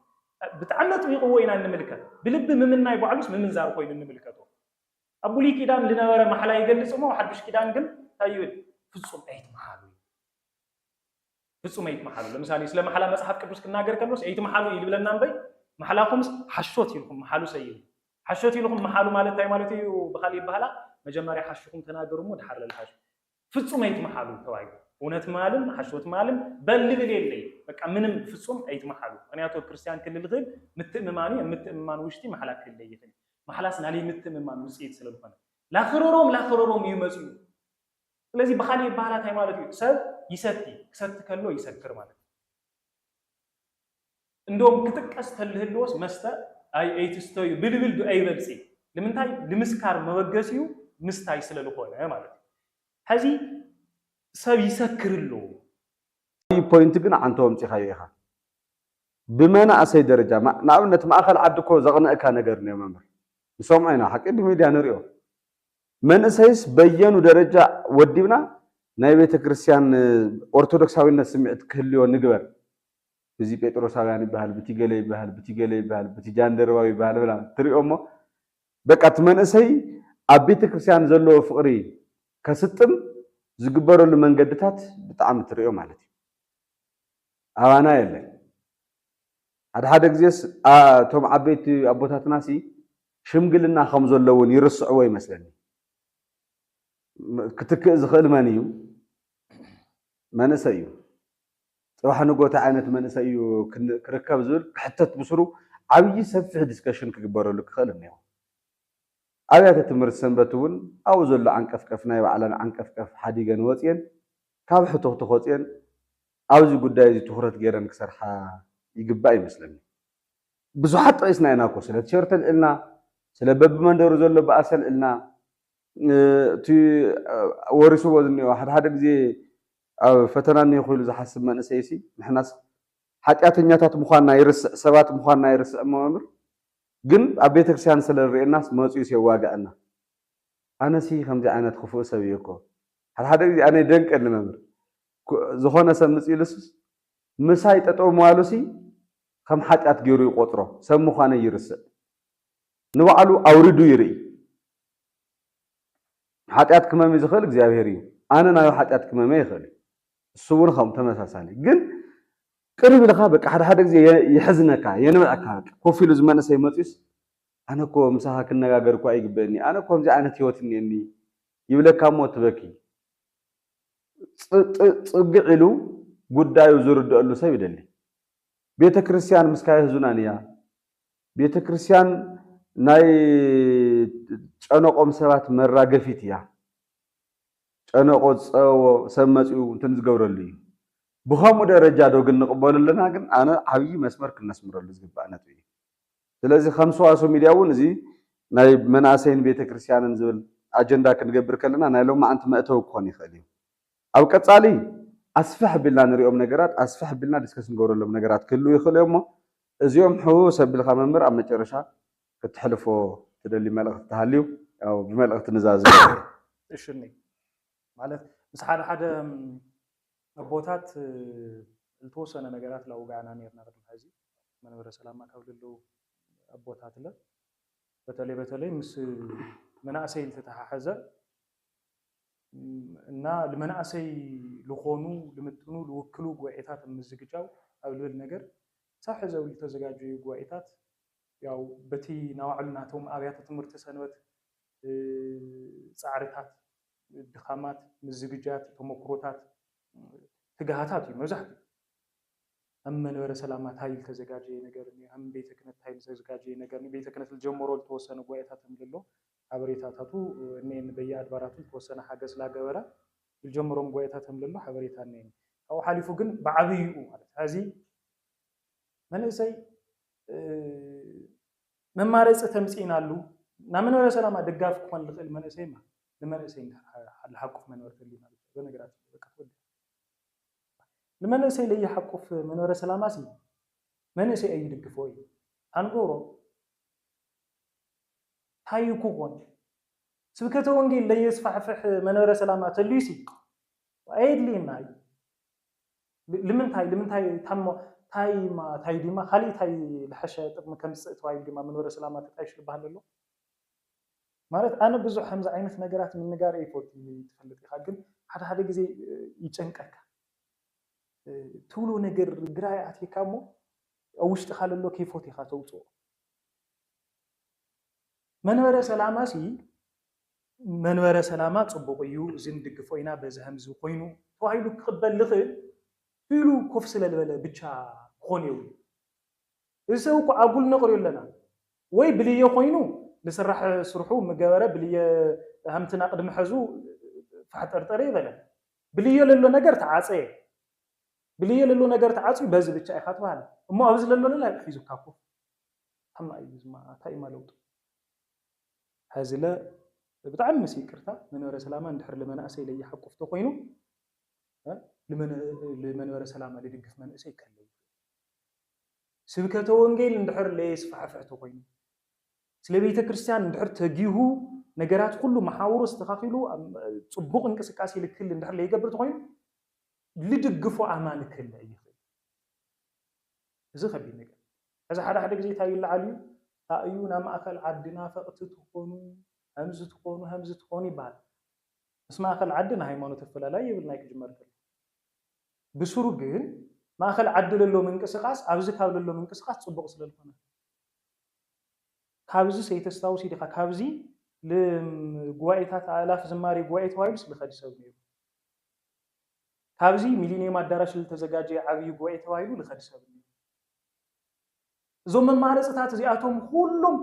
Speaker 2: ብጣዕሚ ኣጥቢቕዎ ኢና እንምልከት ብልቢ ምምናይ ባዕሉስ ምምንዛር ኮይኑ እንምልከቶ ኣብ ብሉይ ኪዳን ልነበረ ማሕላ ይገልጽ እሞ ኣብ ሓዱሽ ኪዳን ግን እንታይ ይብል ፍጹም ኣይትምሃሉ ፍጹም ኣይትምሓሉ። ለምሳሌ ስለ ማሕላ መጽሓፍ ቅዱስ ክናገር ከሎስ ኣይትምሓሉ እዩ ዝብለና እምበይ ማሕላኹምስ ሓሾት ኢልኩም ምሓሉ ሰይሉ ሓሾት ኢልኩም ምሓሉ ማለት እንታይ ማለት እዩ? ብኻሊእ ይባህላ መጀመርያ ሓሽኹም ተናገሩ እሞ ድሓር ለልሓሹ ፍጹም ኣይትምሓሉ ተባሂሉ እውነት ማልም ሓሾት ማልም በልብል የለይ በቃ ምንም ፍጹም ኣይትምሓሉ። ምክንያቱ ኣብ ክርስትያን ክልል ዝኽእል ምትእምማን እዩ። ምትእምማን ውሽጢ ማሕላ ክልለ ይኽእል ማሕላስ ናለይ ምትእምማን ውጽኢት ስለዝኾነ ላኽረሮም ላኽረሮም እዩ መጽኡ ስለዚ ብኻሊእ ይባሃላ ታይ ማለት እዩ ሰብ ይሰቲ ክሰቲ ከሎ ይሰክር ማለት እዩ እንዶም ክጥቀስ ተልህልዎስ መስተ ኣይ ኣይትስተዩ ብልብል ብ ኣይበልጺ ልምንታይ ልምስካር መበገሲኡ ምስታይ ስለ ልኾነ ማለት እዩ ሐዚ ሰብ ይሰክር ኣሎ ዓብይ
Speaker 1: ፖይንት ግን ዓንቶ ኣምጺኻዮ ኢኻ ብመናእሰይ ደረጃ ንኣብነት ማእኸል ዓዲ እኮ ዘቕንእካ ነገር እኒኦ መምህር ንሰምዖ ኢና ሓቂ ብሚድያ ንሪኦ ንመንእሰይስ በየኑ ደረጃ ወዲብና ናይ ቤተ ክርስቲያን ኦርቶዶክሳዊነት ስምዒት ክህልዮ ንግበር። ብቲ ጴጥሮሳውያን ይበሃል፣ ብቲ ገለ ይበሃል፣ ብቲ ገለ ይበሃል፣ ብቲ ጃንደረባዊ ይበሃል ብላ ትሪኦ እሞ በቃ እቲ መንእሰይ ኣብ ቤተ ክርስቲያን ዘለዎ ፍቕሪ ከስጥም ዝግበረሉ መንገድታት ብጣዕሚ ትሪኦ ማለት እዩ። ኣባና የለን። ሓደ ሓደ ግዜስ እቶም ዓበይቲ ኣቦታትና ሲ ሽምግልና ከም ዘሎ እውን ይርስዕዎ ይመስለኒ። ክትክእ ዝኽእል መን እዩ? መንእሰይ እዩ። ፅባሕ ንግሆ እንታይ ዓይነት መንእሰይ እዩ ክርከብ ዝብል ክሕተት ብስሩ ዓብዪ ሰፊሕ ዲስከሽን ክግበረሉ ክኽእል እኒኦ። ኣብያተ ትምህርቲ ሰንበት እውን ኣብኡ ዘሎ ዓንቀፍቀፍ ናይ ባዕለን ዓንቀፍቀፍ ሓዲገን ወፅየን ካብ ሕቱኽቱኽ ወፅየን ኣብዚ ጉዳይ እዚ ትኹረት ገይረን ክሰርሓ ይግባእ ይመስለኒ። ብዙሓት ጠቒስና ኢና እኮ ስለ ቲሸርት ኣልዒልና፣ ስለ በብመንደሩ ዘሎ ባእሲ ኣልዒልና፣ እቲ ወሪስዎ ዝኒኦ ሓደ ሓደ ግዜ ኣብ ፈተና እኒሀኹ ኢሉ ዝሓስብ መንእሰይሲ ንሕናስ ሓጢኣተኛታት ምዃንና ይርስዕ፣ ሰባት ምዃንና ይርስዕ እሞ መምህር ግን ኣብ ቤተክርስትያን ስለ ዝርእየናስ መጺኡስ የዋግዐና። ኣነሲ ከምዚ ዓይነት ክፉእ ሰብ እየ እኮ ሓደ ሓደ ግዜ ኣነ ይደንቀኒ መምህር ዝኾነ ሰብ ምጽ ኢሉስስ ምሳይ ጠጠው ምባሉሲ ኸም ሓጢኣት ገይሩ ይቖጽሮ፣ ሰብ ምዃነይ ይርስዕ። ንባዕሉ ኣውሪዱ ይርኢ። ሓጢኣት ክመሚ ዝኽእል እግዚኣብሄር እዩ። ኣነ ናዩ ሓጢኣት ክመሚ ኣይኽእል እዩ። እሱ እውን ኸም ተመሳሳሊ ግን ቅርብ ኢልኻ በቃ ሓደ ሓደ ግዜ የሕዝነካ የንብዐካ በቃ ኮፍ ኢሉ ዝመንእሰይ መፅዩስ ኣነ እኮ ምሳኻ ክነጋገር እኮ ኣይግበእኒ ኣነ ከምዚ ዓይነት ህይወት እኒአኒ ይብለካ እሞ ትበኪ ፅግዕ ኢሉ ጉዳዩ ዝርደአሉ ሰብ ይደሊ ቤተ ክርስቲያን ምስካ የሕዙናን እያ ቤተ ክርስቲያን ናይ ጨነቆም ሰባት መራገፊት እያ ጨነቆ ዝፀበቦ ሰብ መፅኡ እንትን ዝገብረሉ እዩ ብከምኡ ደረጃ ዶ ግን ንቅበሉ ኣለና ግን ኣነ ዓብዪ መስመር ክነስምረሉ ዝግባእ ነጥቢ እዩ ስለዚ ከም ሰዋስው ሚድያ እውን እዚ ናይ መናእሰይን ቤተክርስትያንን ዝብል ኣጀንዳ ክንገብር ከለና ናይ ሎማዓንቲ መእተዊ ክኾን ይኽእል እዩ። ኣብ ቀጻሊ ኣስፍሕ ኣቢልና ንሪኦም ነገራት ኣስፍሕ ኣቢልና ዲስከስ ንገብረሎም ነገራት ክህልዉ ይኽእሉ እዮም እሞ እዚኦም ሕውውስ ኣቢልካ መምህር ኣብ መጨረሻ ክተሕልፎ ትደሊ መልእኽቲ ተሃልዩ ያው ብመልእኽቲ ንዛዝም እሺ
Speaker 2: ማለት ምስ ሓደ ሓደ ኣቦታት ዝተወሰነ ነገራት ላውጋዕና ኔርና ቅድሚ ሕዚ መንበረ ሰላማ ካብ ልለው ኣቦታት ለ በተለይ በተለይ ምስ መናእሰይ ዝተተሓሐዘ እና ልመናእሰይ ልኾኑ ልምጥኑ ልውክሉ ጉባኤታት ኣብ ምዝግጃው ኣብ ልብል ነገር ክሳብ ሕዚ ኣብ ልተዘጋጀዩ ጉባኤታት ያው በቲ ናባዕሉ ናቶም ኣብያተ ትምህርቲ ሰንበት ፃዕርታት ድኻማት ምዝግጃት ተሞክሮታት ትግሃታት እዩ መብዛሕትኡ ኣብ መንበረ ሰላማ ታይ ልተዘጋጀየ ነገር እኒኦ ኣብ ቤተ ክህነት ታይ ልተዘጋጀየ ነገር እኒኦ ቤተ ክህነት ልጀመሮ ልተወሰነ ጉባኤታት እምልሎ ሓበሬታታቱ እኔኒ። በየኣድባራቱ ዝተወሰነ ሓገዝ ስላገበረ ዝልጀመሮም ጉባኤታት ከምለሎ ሓበሬታ እኔኒ። ካብኡ ሓሊፉ ግን ብዓብይኡ ማለት ሕዚ መንእሰይ መማረፂ ተምፂእናሉ ናብ መንበረ ሰላማ ደጋፊ ክኾን ዝኽእል መንእሰይ እማ ንመንእሰይ እንድሕር ልሓቁፍ መንበሪ ተልዩና በነገራችን ላይ በቃ ተወዲኣ ንመንእሰይ ለይሓቁፍ መንበረ ሰላማ ሲ መንእሰይ ኣይድግፎ እዩ ኣንገብሮ ሃዩ ኩኾን ስብከተ ወንጌል ለየስፋሕፍሕ መንበረ ሰላም ኣተልዩሲ ኣየድልየና እዩ ልምንታይ ልምንታይ ታሞ ታይማ ታይ ዲማ ካልእ ታይ ልሐሸ ጥቅሚ ከምጽእ ተባሂሉ ዲማ መንበረ ሰላማ ተጣይሹ ልባሃል ለሎ ማለት ኣነ ብዙሕ ከምዚ ዓይነት ነገራት ምንጋር ኣይፈቱ ትፈልጥ ኢኻ ግን ሓደ ሓደ ግዜ ይጨንቀካ ትብሎ ነገር ግራ ይኣትየካ እሞ ኣብ ውሽጥኻ ለሎ ከይፎት ኢኻ ተውጽኦ መንበረ ሰላማሲ መንበረ ሰላማ ፅቡቕ እዩ፣ እዚ ንድግፎ ኢና፣ በዚ ከምዚ ኮይኑ ተባሂሉ ክቕበል ዝኽእል ኢሉ ኮፍ ስለ ዝበለ ብቻ ክኾን የብሉን። እዚ ሰብ እኮ ኣጉል ነቕርዮ ኣለና። ወይ ብልየ ኮይኑ ልስራሕ ስርሑ ምገበረ ብልየ ሃምትና ቅድሚ ሐዙ ፋሕጠርጠር የይበለን። ብልዮ ለሎ ነገር ተዓፀየ። ብልይ የለሎ ነገር ተዓጽዩ በዚ ብቻ ኢኻ ትባህል እሞ ኣብ ዝለሎ ለለ ኣዩ ሒዙካ ኮፍ ታማ ኣዩ ዝማ ታይ እማ ለውጡ ሀዝለ ብጣዕሚ ምስ ይቅርታ መንበረ ሰላማ እንድሕር ልመናእሰይ ለይሓቁፍ ተኮይኑ ልመንበረ ሰላማ ልድግፍ መንእሰይ ከለ ስብከተ ወንጌል እንድሕር ለየስፋሕፍሕ ተኮይኑ ስለ ቤተ ክርስቲያን እንድሕር ተጊሁ ነገራት ኩሉ መሓውሩ ኣስተካኪሉ ጽቡቅ እንቅስቃሴ ልክል እንድሕር ለይገብር ተኮይኑ ልድግፎ ኣማኒ ክህለ እይኽእል'ዩ። እዚ ከቢድ ነገር እዩ። ሕዚ ሓደ ሓደ ግዜ እንታይ ይለዓል እዩ፣ ታይ እዩ ናብ ማእኸል ዓዲ ናፈቕቲ ትኾኑ፣ ሀምዚ ትኾኑ፣ ሀምዚ ትኾኑ ይበሃል። ምስ ማእኸል ዓዲ ናይ ሃይማኖት ኣፈላላይ የብልናይ ክጅመር ከሎ። ብስሩ ግን ማእኸል ዓዲ ለሎ ምንቅስቓስ ኣብዚ ካብ ለሎ ምንቅስቓስ ፅቡቕ ስለልኾነ እዩ። ካብዚ ሰይተስታውሲ ዲኻ ካብዚ ልም ጉባኤታት ኣእላፍ ዝማሬ ጉባኤ ተባሂሉስ ልኸዲ ሰብ ነይሩ። ካብዚ ሚሊንየም ኣዳራሽ ልተዘጋጀየ ዓብዪ ጉባኤ ተባሂሉ ልኸድ ሰብ እኒኦ። እዞም መማረፅታት እዚኣቶም ኹሎም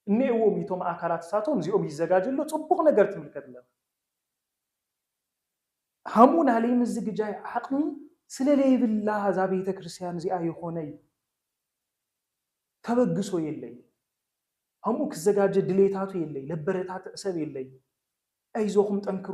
Speaker 2: እኒኤዎም እዩ። እቶም ኣካላት እሳቶም እዚኦም ይዘጋጀ ኣሎ፣ ፅቡቕ ነገር ትምልከት ኣለኻ። ሀሙ ናለይ ምዝግጃይ ዓቕሚ ስለለይብላ እዛ ቤተ ክርስቲያን እዚኣ የኾነይ ተበግሶ የለይ። ሀሙ ክዘጋጀ ድሌታቱ የለይ፣ ለበረታትዕ ሰብ የለይ። ኣይዞኹም ጠንክሩ።